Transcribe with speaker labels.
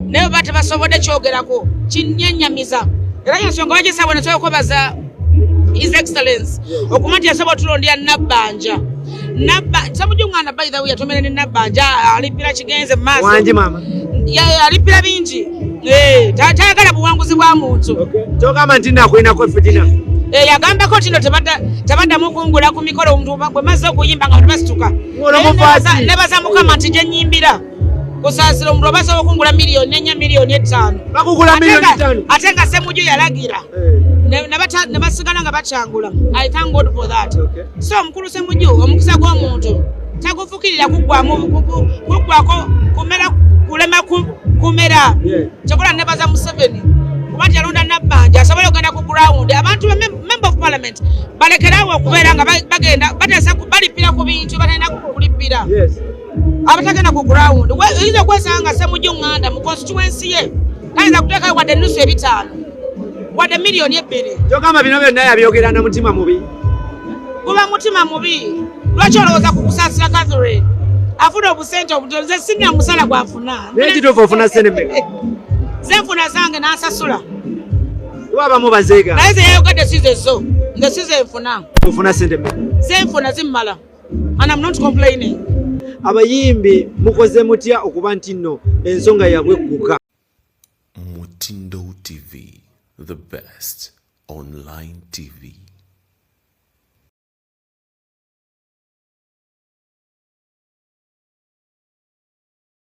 Speaker 1: naye oba tebasobodde kyogerako kinyenyamiza era yensonga bagisabwe nekyokwebaza his excellence okuma nti yasobola otulondera nabbanja samujungana by the way yatomera ne nabbanja alipira kigenze mu maaso
Speaker 2: alipira
Speaker 1: bingi eh, tayagala buwanguzi bwa muntu kyogamba nti nakulinako
Speaker 2: fitina Eh, yagambako
Speaker 1: tino tebaddamu kungula ku mikolo bwemaze okuyimba nga tebasituka nebaza mukama nti gyenyimbira kusaasira omuntu oba asobola okungula miliyoni enya miliyoni etaano
Speaker 2: ate nga semuju
Speaker 1: yalagira eh. ne basigala nga bakyangula i thank god for that so omukulu semuju omukisa gw'omuntu tagufukirira kuggwamu kuggwako kumera kulema kumera kyokola nebaza museveni kuba tyalonda nabbanja asobole okugenda ku ground abantu ba member of parliament balekerawo okubeera nga bagenda batesa balipira ku bintu batalina kulipira abatagenda ku ground oyinza okwesanga nga semujja onganda mu constituency ye tayinza kuteekayo wadde ennusu ebitaano wadde miliyoni ebbiri kyogamba bino byonna yabyogera
Speaker 2: na mutima mubi guba
Speaker 1: mutima mubi lwaki olowooza ku kusaasira catherine afuna obusente obutoze sinna musala gwafuna naye kituufu ofuna sente
Speaker 2: meka zenfuna
Speaker 1: zange n'asasula
Speaker 2: wabamu bazeega naye zeyayogadde
Speaker 1: sizezo nga sizenfuna ofuna sente meka
Speaker 2: zenfuna zimmala
Speaker 1: And I'm not complaining. Abayimbi
Speaker 2: mukoze mutya okuba nti nno ensonga yabwe egguka.
Speaker 3: Mutindo TV, the best online TV.